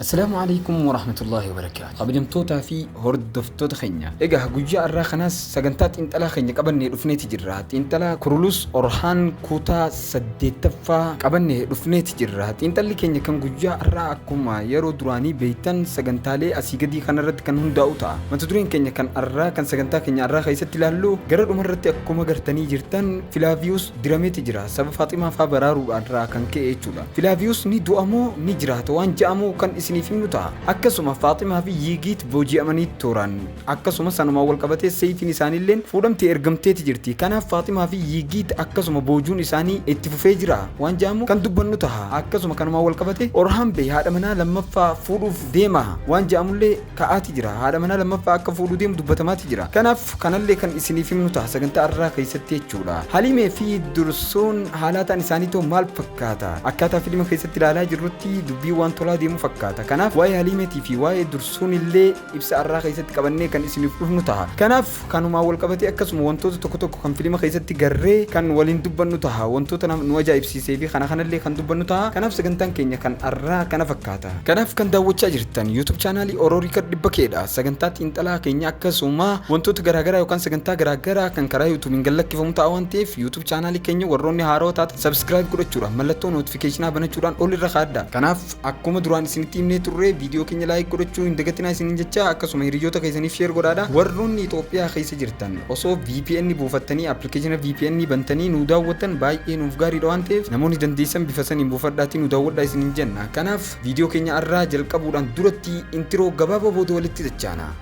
Assalaamu Aleeykum Warahmatullaahi Wabarakaatuh Kabajamtootaa fi hordoftoota keenya Egaa guyyaa arraa kanaas sagantaa xiinxalaa keenya qabannee dhufneeti jirra Xiinxalaa Kurulus Orhaan kuutaa 8ffaa qabannee dhufneeti jirra Xiinxalli keenya kan guyyaa arraa akkuma yeroo duraanii beeytan sagantaalee asii gadii kanarratti kan hundaa'u ta'a Mata dureen keenya kan arraa kan sagantaa keenya arraa keessatti ilaallu gara dhumarratti akkuma gartanii jirtan Filaaviyus dirameti jira saba faximaa faa baraaruudhaan irraa kan ka'e jechuudha filaaviyus ni du'a moo ni jiraata waan ja'amu kan isiniif himnu ta'a akkasuma faaximaa fi yiigiit booji'amanii tooraan akkasuma sanumaan wal qabatee seeyfiin isaaniilleen fuudhamtee ergamteeti jirti kanaaf faaximaa fi yiigiit akkasuma boojuun isaanii itti fufee jira waan ja'amu kan dubbannu ta'a akkasuma kanumaan wal qabate orhaan bey haadha manaa lammaffaa fuudhuuf deema waan ja'amullee ta'aati jira. Haadha manaa lammaffaa akka fuudhu deemu dubbatamaati jira. Kanaaf kanallee kan isiniif himnu ta'a sagantaa arraa keessatti jechuudha. Halimee fi Dursuun haalaataan isaanii too maal fakkaata? Akkaataa filima keessatti ilaalaa jirrutti dubbii waan tolaa deemu fakkaata. Kanaaf waa'ee Halimeetii fi waa'ee Dursuun illee ibsa arraa keessatti qabannee kan isiniif dhufnu ta'a. Kanaaf Kanumaan walqabatee akkasuma wantoota tokko tokko kan filima keessatti garree kan waliin dubbannu taha. Wantoota nama nu ajaa'ibsiisee fi kana kanallee kan dubbannu taha. Kanaaf sagantaan keenya kan arraa kana fakkaata. Kanaaf kan daawwachaa jirtan YouTube chaanaalii Oro Record 100 dha. Sagantaa xiinxalaa keenya akkasuma wantoota garaagaraa yookaan sagantaa garaagaraa kan karaa YouTube'n gad lakkifamu ta'a waan ta'eef YouTube chaanaalii keenya warroonni haarawa taatan subscribe godhachuudhaan mallattoo notificationaa banachuudhaan ol irra kaa'adhaa. Kanaaf Akkuma duraan isinitti himnee turre viidiyoo keenya laayik godhachuu hin dagatinaa isiniin jecha akkasuma hiriyoota keessaniif sheer godhaadha. Warroonni Itoophiyaa keessa jirtan osoo VPN buufattanii appilikeeshina VPN bantanii nu daawwattan baay'ee nuuf gaariidha waan ta'eef namoonni dandeessan bifa saniin buufadhaatii nu daawwadhaa isiniin jenna. Kanaaf viidiyoo keenya har'aa jalqabuudhaan duratti intiroo gabaabaa booda walitti dachaana.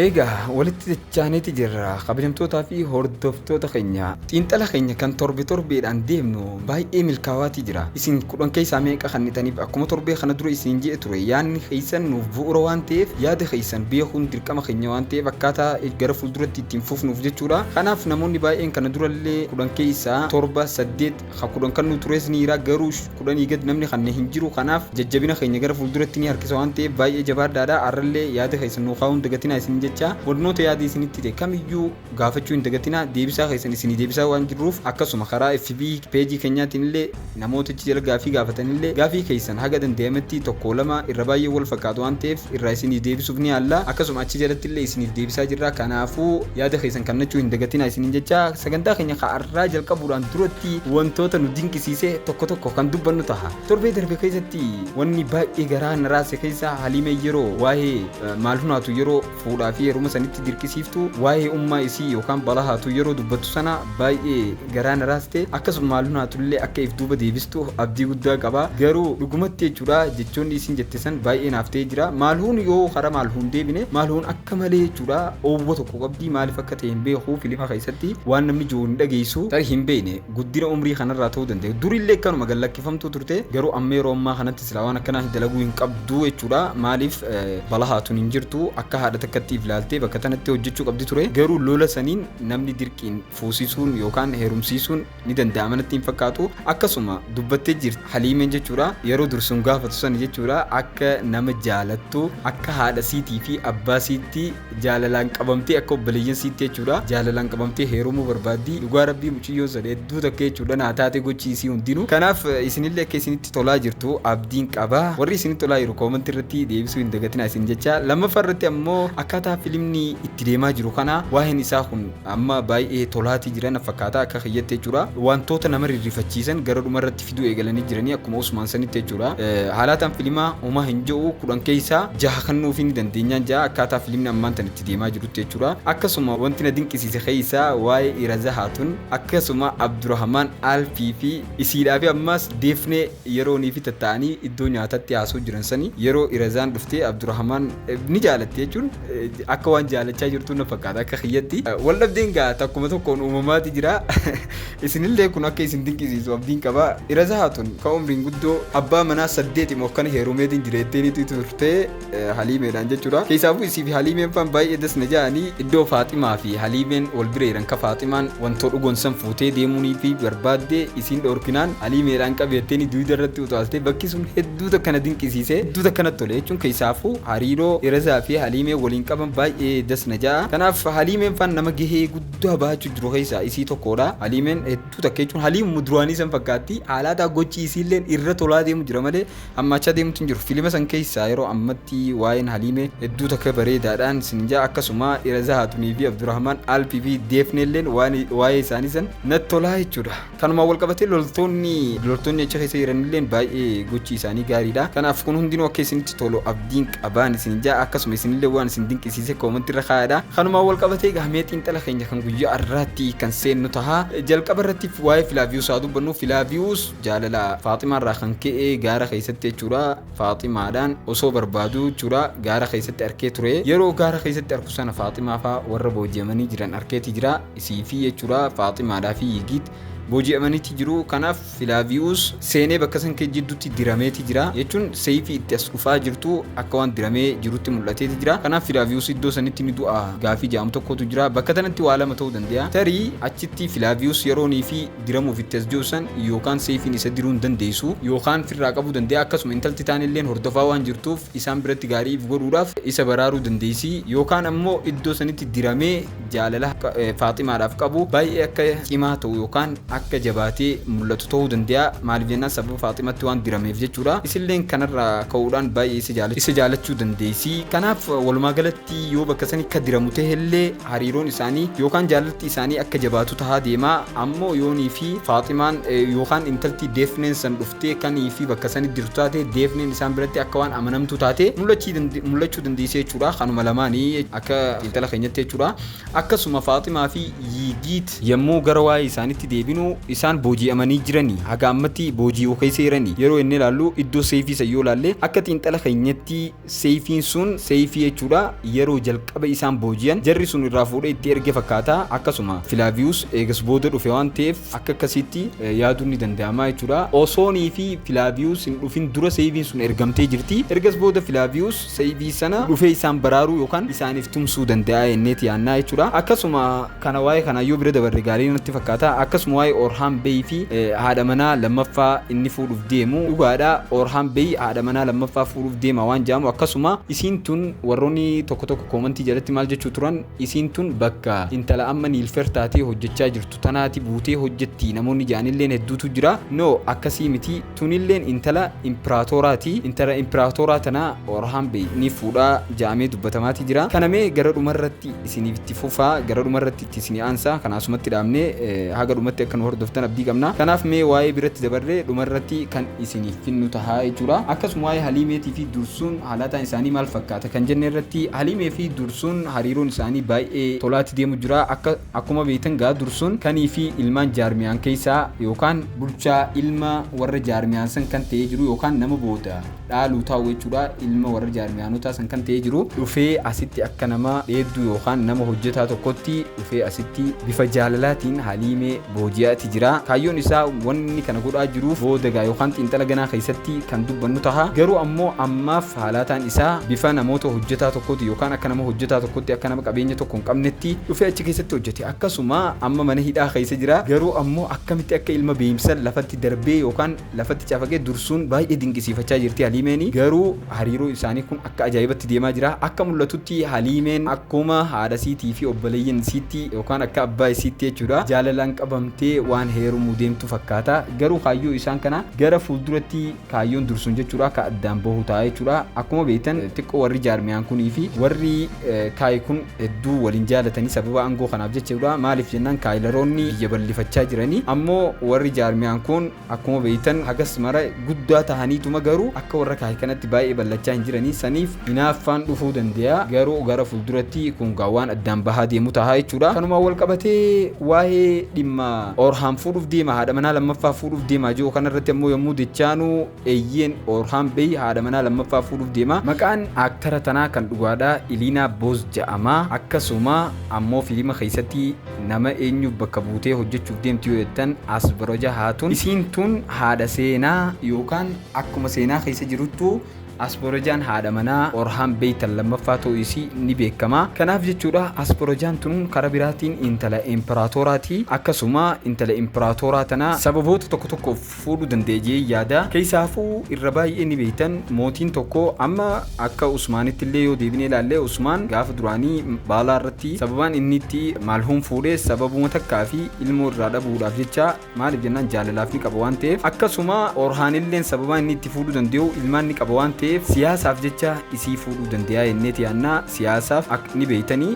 Eegaa walitti dachaaneti jirra kabajamtootaa fi hordoftoota keenya. Xiinxala keenya kan torbe torbeedhaan deemnu baay'ee milkaawaati jira. Isin kudhan keessaa meeqa kannitaniif akkuma torbee kana dura isiniin je'e ture yaanni keessan nuuf bu'ura waan ta'eef yaada keessan beekuun dirqama keenya waan ta'eef akkaataa gara fuulduratti ittiin fufnuuf jechuudha. Kanaaf namoonni baay'een kana durallee kudhan keessaa torba saddeet Ka kudhan kan nu tures ni jira garuu kudhanii gad namni kanne hin jiru kanaaf jajjabina keenya gara fuulduratti ni harkisa waan ta'eef baay'ee jabaadhaadha har'allee yaada keessan nuu kaa'uu hin dagatinaa isiniin jecha barnoota yaadi isinitti ta'e kamiyyuu gaafachuu hin dagatinaa deebisaa keessan isinii deebisaa waan jirruuf akkasuma karaa fb peejii keenyaatiin illee namoota achi jala gaafii gaafatanillee gaafii keessan haga danda'ametti tokko lama irra baay'ee wal fakkaatu waan ta'eef irraa isinii deebisuuf ni yaalla. Akkasuma achi jalatti illee isiniif deebisaa jirra. Kanaafuu yaada keessan kannachuu hin dagatinaa isiniin jecha sagantaa keenya ka arraa jalqabuudhaan duratti wantoota nu dinqisiise tokko tokko kan dubbannu taha. Torbee darbe keessatti wanni baay'ee garaa na raase keessaa Haliimeen yeroo waa'ee eh, Maalhunaatu yeroo fuudhaa fi heeruma sanitti dirqisiiftu waa'ee ummaa isii yookaan Balahaatuu yeroo dubbattu sana baay'ee garaa na raaste akkasuma maaloo naatullee akka if duuba deebistu abdii guddaa qaba garuu dhugumatti jechuudha jechoonni isiin jette san baay'ee naaf ta'ee jira maalhuun yoo karaa maalhuun deebine maalhuun akka malee jechuudha oowwa tokko qabdi maaliif akka ta'e hin beeku filima keessatti waan namni jiru hin dhageessu tarii hin beekne guddina umrii kanarraa ta'uu danda'e durillee kanuma gallakkifamtuu turte garuu amma yeroo ammaa kanatti silaa waan akkanaa dalaguu hin qabdu jechuudha maaliif balahaatuun hin jirtu akka haadha takkatti if laaltee bakka tanatti hojjechuu qabdi ture garuu lola saniin namni dirqiin fuusisuun yookaan heerumsiisuun ni danda'ama natti hin fakkaatu akkasuma dubbattee jirti haliimeen jechuudha yeroo dursuun gaafatu sana jechuudha akka nama jaalattu akka haadha siitii fi abbaa siitti jaalalaan qabamtee akka obboleeyyan siitti jechuudha jaalalaan qabamtee heerumuu barbaaddi dhugaa rabbii muciyyoon sana hedduu takka jechuudha naa taatee gochii isii hundinuu kanaaf eh, isinillee akka isinitti tolaa jirtu abdiin qaba warri isinitti tolaa jiru koomanti irratti deebisuu hin dagatinaa isin jecha lammaffaa irratti ammoo akkaataa filimni itti deemaa jiru kana waa'een isaa kun Amma baay'ee tolaati jira na fakkaata akka kiyyatti jechuudha. Wantoota nama rirrifachiisan gara dhuma irratti fiduu eegalanii jiranii akkuma Usmaan sanitti jechuudha. Haalaataan filimaa homaa hin je'u kudhan keessaa jaha kannuufii ni dandeenyaan ja'a akkaataa filimni ammaan tan itti deemaa jirutti jechuudha. Akkasuma wanti na dinqisiise keessaa waa'ee Irazahaa tun akkasuma Abdurahamaan Alfii fi isiidhaa fi ammaas Deefnee yeroo niifi tatta'anii iddoo nyaatatti haasoo jiran sani yeroo Irazaan dhuftee Abdurahamaan ni jaalatte jechuun Akka waan jaalachaa jirtuu na fakkaata akka kiyyatti. Wal dhabdeen gaa takkuma tokkoon uumamaati jira. Isinillee kun akka isin dinqisiisu abdiin qaba. Iraza Haatun ka umriin guddoo abbaa manaa saddeeti moo akkana heerumeetiin jireetteeniitu turte Haliimeedhaan jechuudha. Keessaafuu isii fi Haliimeen faan baay'ee das na ja'anii iddoo Faaximaa fi Haliimeen wal bira jiran ka Faaximaan wantoo dhugoon san fuutee deemuunii fi barbaadde isiin dhoorkinaan Haliimeedhaan qabeetteeni duyda irratti utaaltee bakki sun hedduu Hedduu takka na dinqisiise, hedduu takka natti tole jechuun keessaafuu hariiroo Dheresaa fi Haliimee waliin qaban baay'ee das na ja'a. Kanaaf Haliimeen faan nama gahee guddaa bahachuu jiru keessaa isii tokkoodha. Haliimeen hedduu takka jechuun Haliimuma duraanii san fakkaatti. Haalaataa gochi isiilleen irra tolaa deemu jira malee hammaachaa deemutti hin jiru. Filima san keessaa yeroo ammatti waa'een Haliimee hedduu takka bareedaadhaan sin ja'a. Akkasuma Dheresaa Haatunii fi Abdurahmaan Alpii fi Deefneelleen waan waa'ee isaanii san natti tolaa jechuudha. Kanumaan walqabatee loltoonni loltoonni achi keessa jiranilleen baay'ee gochi isaanii gaariidha. Kanaaf kun hundinuu akka isinitti tolu abdiin qabaan isin ja'a akkasuma isinillee waan isin dinqisiise koomantii irra kaa'adha. Kanumaan walqabatee gahamee xiinxala keenya kan guyyaa irraatti kan seennu taha. Jalqaba irratti waa'ee Filaaviyuus haa dubbannu. Filaaviyuus jaalala Faaximaa irraa kan ka'e gaara keessatti jechuudha. Faaximaadhaan osoo barbaaduu jechuudha gaara keessatti arkee ture. Yeroo gaara keessatti arku sana Faaximaa faa warra booji'amanii jiran arkeeti jira. Isii fi jechuraa Faaximaadhaa fi Yigiit booji'amaniiti jiru. Kanaaf Filaaviyuus seenee bakka san kee jidduutti dirameeti jira. Jechuun seeyfii itti as dhufaa jirtu akka waan diramee jirutti mul'ateeti jira. Kanaaf Filaaviyuus iddoo sanitti ni du'a gaafii ja'amu tokkootu jira. Bakka tanatti waa lama ta'uu dandeeya. Tarii achitti Filaaviyuus yeroo niifi diramuuf itti as jiru san yookaan seeyfiin isa diruu hin dandeeysu yookaan firraa qabuu dandeeya. Akkasuma intalti taanilleen hordofaa waan jirtuuf isaan biratti gaarii if godhuudhaaf isa baraaruu dandeeysi. Yookaan ammoo iddoo sanitti diramee jaalala Faaximaadhaaf qabu baay'ee akka cimaa ta'u yookaan akka jabaatee mul'atu ta'uu danda'a. Maaliif jennaan sababa Faaximatti waan dirameef jechuudha. Isilleen kanarraa ka'uudhaan baay'ee isa jaala- isa jaalachuu dandeessi. Kanaaf walumaa galatti yoo bakka sani akka diramu ta'ellee hariiroon isaanii yookaan jaalalti isaanii akka jabaatu tahaa deema. Ammoo yoonii fi Faaximaan eh, yookaan intalti Deefneen san dhuftee kanii fi bakka sani dirtu taate Deefneen isaan biratti akka waan amanamtuu taate mul'achii dande- mul'achuu dandeessi jechuudha. Kanuma lamaanii akka intala keenyatti jechuudha. Akkasuma Faaximaa fi Yiigiit yommuu gara waa'ee isaanitti deebinu isaan booji'amanii jiranii haga ammatti booji'uu keessa jiranii yeroo inni ilaallu iddoo seeyfii san yoo ilaalle akka xiinxala keenyatti seeyfiin sun seeyfii jechuudha yeroo jalqaba isaan booji'an jarri sun irraa fuudhee itti erge fakkaata akkasuma Filaaviyuus eegas booda dhufe waan ta'eef akka akkasiitti eh, yaaduun ni danda'ama jechuudha. Osoonii fi Filaaviyuus hin dhufin dura seeyfiin sun ergamtee jirti ergas booda Filaaviyuus Sayyidii sana dhufee isaan baraaruu yookaan isaaniif tumsuu danda'a jenneeti yaannaa jechuudha. Akkasuma kana waa'ee kanaa yoo bira dabarre gaarii natti fakkaata. Akkasuma waa'ee Orhaan Bey fi haadha manaa lammaffaa inni fuudhuuf deemu dhugaadha. Orhaan Bey haadha manaa lammaffaa fuudhuuf deema waan jedhamu akkasuma isiin tun warroonni tokko tokko koomantii jalatti maal jechuu turan isiin tun bakka intala amma Niilfer taatee hojjechaa jirtu tanaati buutee hojjetti namoonni jedhanilleen hedduutu jira. No akkasii miti. Tunilleen intala impiraatooraa ti. Intala impiraatooraa tana Orahaam bey ni fuudha ja'amee dubbatamaa ti jira. Kana mee gara dhuma irratti isiniif itti fufa. Gara dhuma irratti itti isinii aansa. Kana asumatti dhaabne. Haga dhumatti akka nu hordoftan abdii qabna. Kanaaf mee waa'ee biratti dabarre dhuma irratti kan isiniif finnu taha jechuu dha. Akkasuma waa'ee Haliimeetii fi Dursuun halataan isaanii maal fakkaata kan jenne irratti Haliimee fi Dursuun hariiroon isaanii baay'ee tolaa ti deemu jira. Akka. Akkuma beektan gaa dursuun kanii fi ilmaan jaarmiyaan keessaa yookaan. bulchaa ilma warra jaarmiyaan san kan ta'ee jiru yookaan nama booda dhaalu taa'u jechuudha. Ilma warra jaarmiyaanotaa san kan ta'ee jiru. dhufee asitti akka nama dheedduu yookaan nama hojjetaa tokkotti dhufee asitti bifa jaalalaatiin Haliimee booji'aati jira. Kaayyoon isaa wanni kana godhaa jiruuf booda gaa yookaan xiinxala ganaa keessatti kan dubbannu taha. Garuu ammoo ammaaf. Haalaataan isaa bifa namoota hojjetaa tokkooti yookaan akka nama hojjetaa tokkotti akka nama qabeenya tokko hin qabnetti dhufee achi keessatti hojjete akkasuma amma mana hidhaa keessa jira garuu ammoo akkamitti akka ilma beeyimsan lafatti darbee yookaan lafatti cafaqee dursuun baay'ee dinqisiifachaa jirti haliimeeni garuu hariiroo isaanii kun akka ajaa'ibatti deemaa jira akka mul'atutti haliimeen akkuma haadha siitii fi obboleeyyan isiitti yookaan akka abbaa isiitti jechuudha jaalalaan qabamtee waan heerumuu deemtu fakkaata garuu kaayyoo isaan kana gara fuulduratti Kaayyoon dursuun jechuudha akka addaan bahu ta'a jechuudha. Akkuma beektan xiqqoo warri jaarmiyaan kunii fi warri kaayi kun hedduu waliin jaalatanii sababa aangoo kanaaf jechuudha. Maaliif jennaan kaayilaroonni biyya bal'ifachaa jiranii ammoo warri jaarmiyaan kun akkuma beektan hagas mara guddaa tahaniituma garuu akka warra kaayi kanatti baay'ee bal'achaa hin jiranii saniif Hinaaffaan dhufuu dandeeya, garuu gara fulduratti kun gaa waan addaan bahaa deemu taha jechuudha. Kanumaan wal qabatee waa'ee dhimma Oorhaam fuudhuuf deema, haadha manaa lammaffaa fuudhuuf deema jedhu kanarratti ammoo yommuu dechaanu eeyyeen Oorhaam Beey haadha manaa lammaffaa fuudhuuf deema. Maqaan aaktara tanaa kan dhugaadha Iliinaa Booz ja'ama. Akkasuma ammoo filima keessatti nama eenyuuf bakka buutee hojjechuuf deemti yoo jettan Asbroja Haatun. Isiin tun haadha seenaa yookaan akkuma seenaa keessa jiruttu Asborojaan haadha manaa Orhaan Beytal lammaffaa ta'uu isii ni beekama. Kanaaf jechuudha Asborojaan tun kara biraatiin intala Imperaatooraati. Akkasuma intala Imperaatooraa tana sababoota tokko tokkoof fuudhuu danda'a je'ee yaada. Keessaafuu irra baay'ee ni beektan mootiin tokko amma akka Usmaanitti illee yoo deebinee ilaalle Usmaan gaafa duraanii baalaa irratti sababaan inni itti Malhuum fuudhe sababuma takkaa fi ilmoo irraa dhabuudhaaf jecha Maaliif jennaan jaalalaaf ni qaba waan ta'eef akkasuma Orhaanilleen sababaa inni itti fuudhuu danda'u ilmaan ni qaba waan ta'eef siyaasaaf jecha isii fuudhuu danda'a jenneeti yaannaa siyaasaaf akka ni beeytanii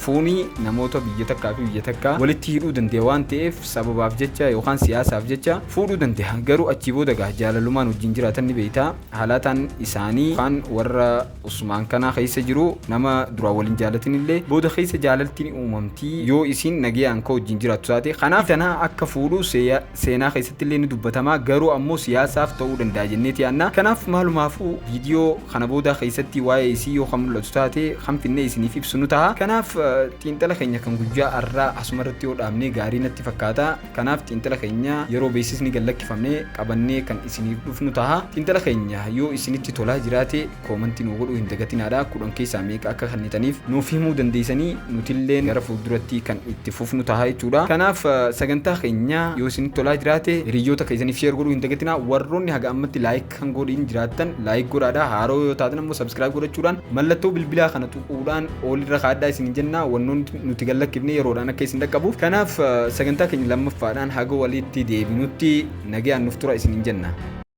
fuunii namoota biyya takkaa fi biyya takkaa walitti hidhuu danda'a waan ta'eef sababaaf jecha yookaan siyaasaaf jecha fuudhuu danda'a garuu achii booda gaa jaalalumaan wajjin jiraatan ni beeyta halaataan isaanii yookaan warra Usmaan kana keessa jiru nama duraan wal hin jaalatinillee booda keessa jaalaltiin uumamti yoo isiin nagayaan ka wajjin jiraattu taate kanaaf tana akka fuudhu seeya- seenaa keessattillee ni dubbatama garuu ammoo siyaasaaf ta'uu danda'a jenneeti yaanna kanaaf maalumaafuu viidiyoo kana boodaa keessatti waa'ee isii yoo kan mul'atu taate kan finnee isiniif ibsu nu taha kanaaf eh, xiinxala keenya kan guyyaa arraa asuma irratti yoo dhaabnee gaarii natti fakkaata Kanaaf xiinxala keenya yeroo beeksisni gad lakkifame qabannee kan isiniif dhufnu taha. Xiinxala keenya yoo isinitti tolaa jiraate koomantii nuu godhuu hin dagatinaadha. Kudhan keessaa meeqa akka kannitaniif nuuf himuu dandeeysanii nutilleen gara fuulduratti kan itti fufnu taha jechuudha. Kanaaf sagantaa keenya yoo isinitti tolaa jiraate hiriyyoota keeysaniif share godhuu hin dagatinaa. Warroonni haga ammatti like kan godhin jiraattan laayik godhaadha haaroo yoo taatan ammoo sabskiraayib godhachuudhaan mallattoo bilbilaa kana tuquudhaan oolirra kaaddaa isin jenna wannoon nuti gallakkifne yeroodhaan akka isin dhaqqabuuf kanaaf sagantaa keenya lammaffaadhaan haga walitti deebinutti nagayaan nuuf tura isin jenna.